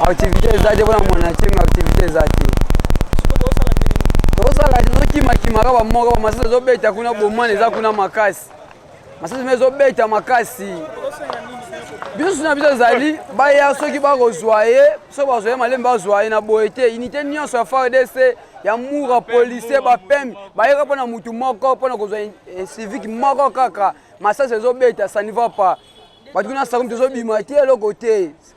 activité eza te mpona mwana ncenga activité eza te tozosala te tozokimakimaka bamoko bamasasi ezobeta kuna bomwana eza kuna makasi masasi ma ezobeta makasi biso na biso ezali baya soki bakozwa ye soki bazwa ye malembe bazwa ye na boye te unité nyonso ya fardc ya mura policier bapembe bayeka mpo na motu moko mpo na kozwa civique moko kaka masasi ezobeta ça ne va pas bato kuna sakomi tozobima te eloko te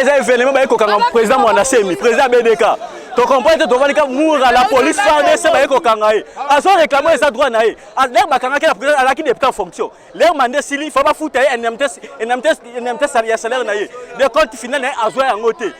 eza evenema baye kokanga président mwana semi président bdk tocomprendre te tovandi ka mura la police fardc baye kokanga ye azo réclame eza droit na ye lere bakangaki na président alaki député en fonction lere mande esili fa bafuta ye indemnité ya salaire na ye de compte final na ye azwa yango te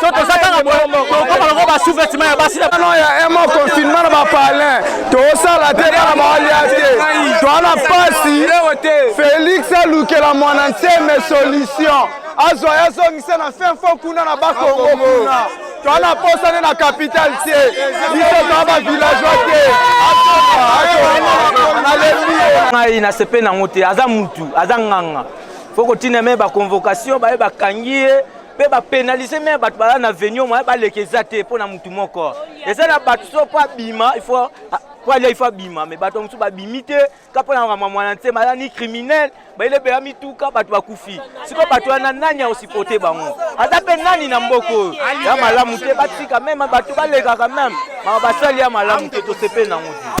so toza kaka tokoma loko basouvetima ya basi no ya emo confinement na bapalin tosala te bana baalia te toana mpasi félix alukela mwana nseme solution azwa ye azongisa na fin fo kuna na bakongo kuna toana mposa nde na capitale te biso toa bavillageois te nalembi ye ngai nasepeli nango te aza mutu aza nganga fo kotina me baconvocation baye bakangi ye mpe bapenalize me bato bala na venio moya baleka eza te mpo na motu moko eza na bato so mpo abima ifo mpo alia ifo abima me bato mosusu babimi te ka mpo na makambo ya mwana nsema aza ni criminel bayile beya mituka bato bakufi sikoyo bato wana nani aosipote bango aza mpe nani na mboka oyo ya malamu te batika meme bato balekaka meme maka basali ya malamu te tosepeli nango te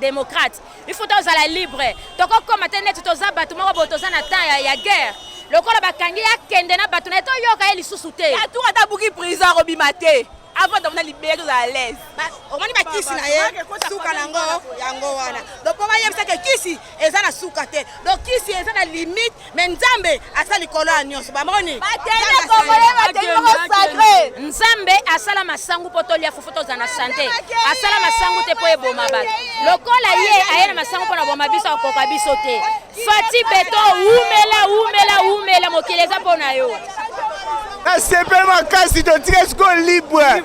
democrate il faut tozala libre tokokoma te neti toza bato moko boye toza na temps ya, ya guerre lokola bakangi ye akende na bato na ye toyoka ye lisusu te atour ata buki prison akobima te avant tofanda libere tozala à l'aise omoni bakisi na ye suka na yango yango wana donc mpo bayebisaka kisi eza na suka te donc kisi eza na limite me nzambe asa likolo ya nyonso bamoni nzambe asala masangu mpo tolia fufu tozala na sante asala masangu te mpo eboma bato lokola ye aye na masangu mpo na boma biso akoka biso te fati beto wumela wumela wumela mokili eza mpo na yo nasepeli makasi totika sikoyo libre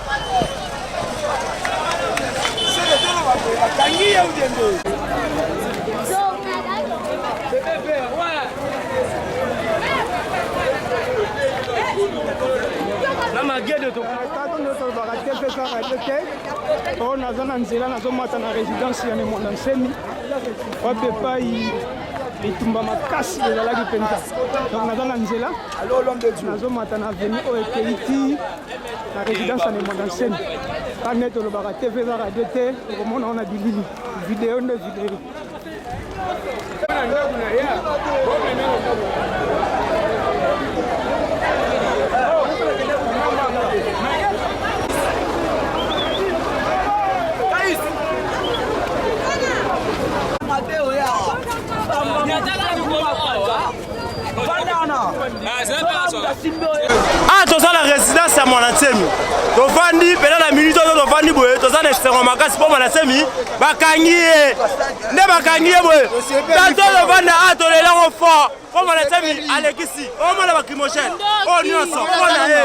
na magede tokatondotolobaka te mpe kaka te te oyo naza na nzela nazomata na résidence ya memona nsemi wapi epai bitumba makasi ezalaki mpenza donc naza na nzela nazomata na veni oyo ekeyi ti na résidence ya nemanda nseni kaka nde tolobaka tv eza radio te okomona ona bilili video nde video ah toza na résidence ya mwana nsemi tofandi mpena na minute oyo tofandi boye toza na esengo makasi mpo mwana nsemi bakangi ye nde bakangi ye boye tato tofanda a ah, tolelango fort mpo mwana nsemi alekisi omona bakrimogène oyo oh, nyonso mpo na ye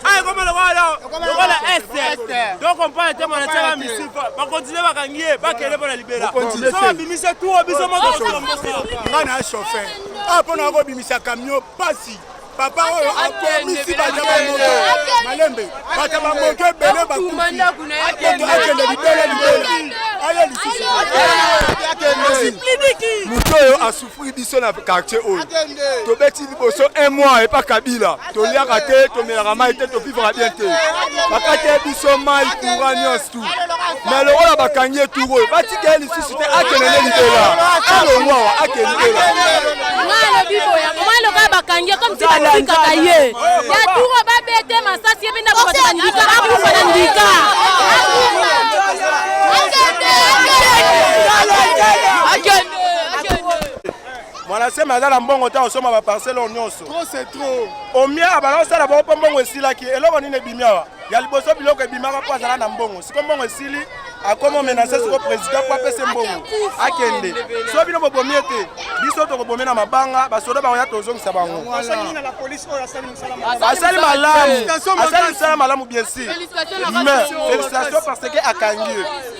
awa ah, ekoma lokola lokola est donc ompana te mwana tiaka misile bakontinue bakangi ye bakende mpo na libela so babimisa tour biso motomotomotongai na chauffeur awa mpo na kobimisa kamio pasi papa oyo akomisi bato bamoto malembe bato bamoto ebele bakufi akende libele libele aye lisusu moto oyo Puis biso na quartier oyo tobeti liboso un mois epa kabila toliaka te tomelaka mai te topivaka bien te bakati ye biso mai courant nyonso tu me lokola bakangi ye turu oyo batika ye lisusu te akende nde libela alongwa awa akende libela aloka bakangi ye comme si batikaka ye ya turu babete masasi ye mpe ndako bato bandika akufa na ndika akende akende mwana sema aza na mbongo ta osoma baparcele oyo nyonso omia abala osala bango mpo mbongo esilaki eloko nini ebimi awa ya liboso biloko ebimaka mpo azala na mbongo siko mbongo esili akoma omenase siko président mpo apese mbongo akende so bino bobomi ete biso tokobomi na mabanga basoda bango ya tozongisa bango asali malamu asali misala malamu bien sûr mais félicitation parce que akangi ye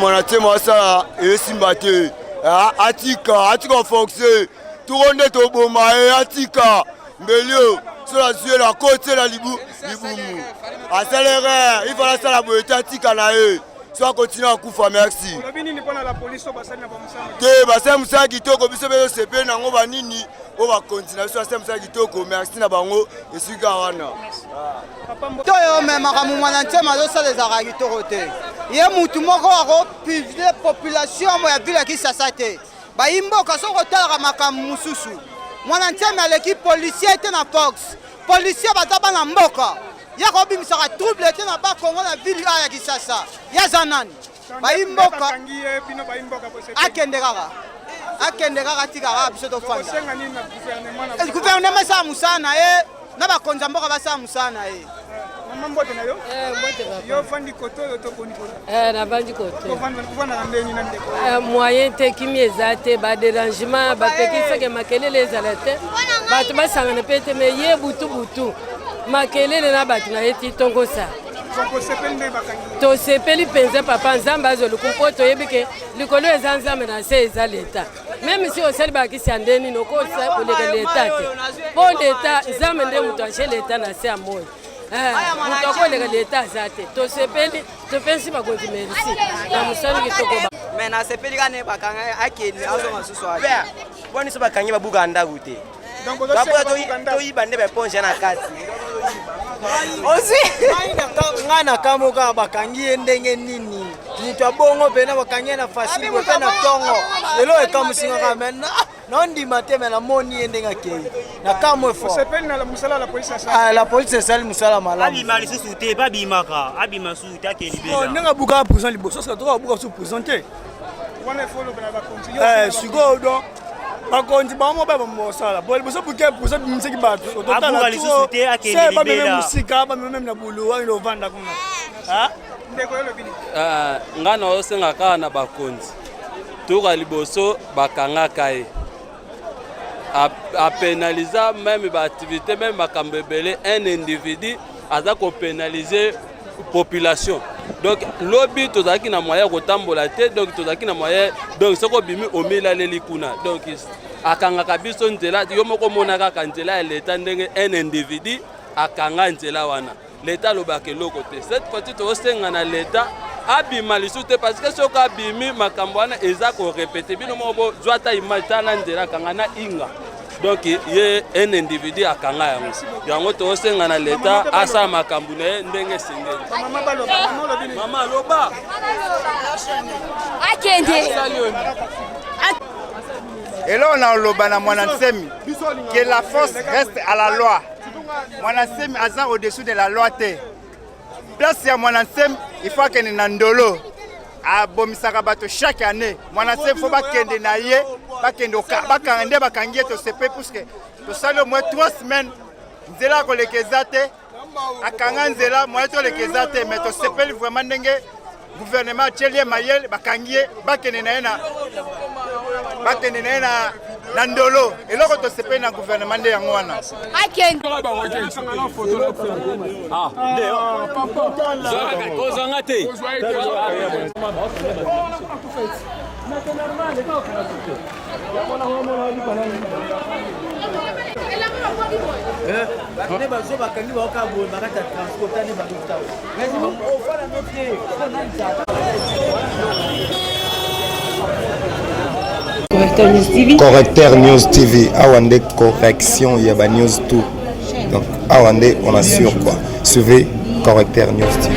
mwana te masala esimba te atika atika foxe toko nde toboma ye atika mbelio soki azwi elo akoti ela libumu asali erreur il fala asala boye te atika na ye so akontinue akufa merci te basali mosala kitoko biso mpe tosepeli na yango banini oyo bakonzi na biso basali mosala kitoko merci na bango esika wana to yo omemaka momwana ntema azosala ezalaka kitoko te ye mutu moko akopublie population ya vile ya kisasa te bayi mboka soki otalaka makambo mosusu mwana ntiame aleki policier te na fox policier baza bana mboka ye akobimisaka trouble te na bakongo na ville a ya kisasa ye aza nani bayi mboka akende kaka akende kaka tika kaka biso tofanda gouvernement esala mosala na ye na bakonzi ya mboka basala mosala na ye mama mbote na yo eh, yo ofandi koto oyo to boni koto eh, navandi kotoofandaka ndenge na ndeko eh, moyen te kimi eza te baderangement bapekiseke makelele ezala te bato basangana mpe te me ye butu butu makelele na bato na ye ti tongosa tosepeli mpenza papa nzambe azoluku mpo toyebi ke likolo eza nzambe na se eza leta meme si osali balakisi ya nde nini okosa koleka leta te mpo leta nzambe nde moto aje leta na se ya moi eh, moto akoleka leta aza te tosepeli topesi bakonzi merci na mosali kitoko me nasepeli kane bakanga akende azonga susu boni so bakangi babuka ndako te toyiba nde baeponge na kati osi ngai na kambo kaka bakangi ye ndenge nini moto ya bongo mpena bakangi ye na fasile boye mpe na ntongo lelo ekamusingaka me naondima te me namoni ye ndenge akei na kambo ah, la polise esali mosala malamuabima lisusu te babimaka abima susu te ake libela oh, ndenge abukaka prison liboso soka toka abuka su prison te eh, sikoyo don bakonzi bango moko baya bamosala po liboso buke posa bimisaki bato ototala tuo se bameme mosika bameme meme na bulu ayina ovanda kuna Eh, ngai na osenga kaka na bakonzi toka liboso bakangaka ye apenaliza meme baaktivité meme makambo ebele un individu aza kopenalize population donc lobi tozalaki na moyen ya kotambola te donc tozalaki na moyen donc soki obimi omilaleli kuna donc akangaka biso nzela yo moko omona kaka nzela ya leta ndenge un individu akanga nzela wana leta alobaka eloko te cette fois-ci tozosenga na leta abima lisusu te parce que soki abimi makambo wana eza korepete bino moko bozwa ata image tala nzela kanga na inga donc ye un individu akanga yango yango tosenga na leta asala makambo na ye ndenge esengeli mama aloba akende eloko na oloba na mwana nsemi que la force reste à la loi mwana nsemi aza au-dessus de la loi te Place ya mwana nsem il faut akende na ndolo abomisaka bato chaque année mwana nsem faut bakende na ye bakende bakanga nde bakangi ye tosepe puisque tosali omoi 3 semaines nzela ya koleka eza te akanga nzela moye toleka eza te mais tosepeli vraiment ndenge Gouvernement atieli ye mayele, bakangi ye, bakende na ye na bakende na ye na na ndolo eloko tosepeli na guvernema nde yango wana kozanga te bakende bazo bakangi baoka boye bakati ya transport tani baluta ofana no te correcteur news tv awa nde correction ya ba news tout donc awa nde on assure quoi suivez correcteur news tv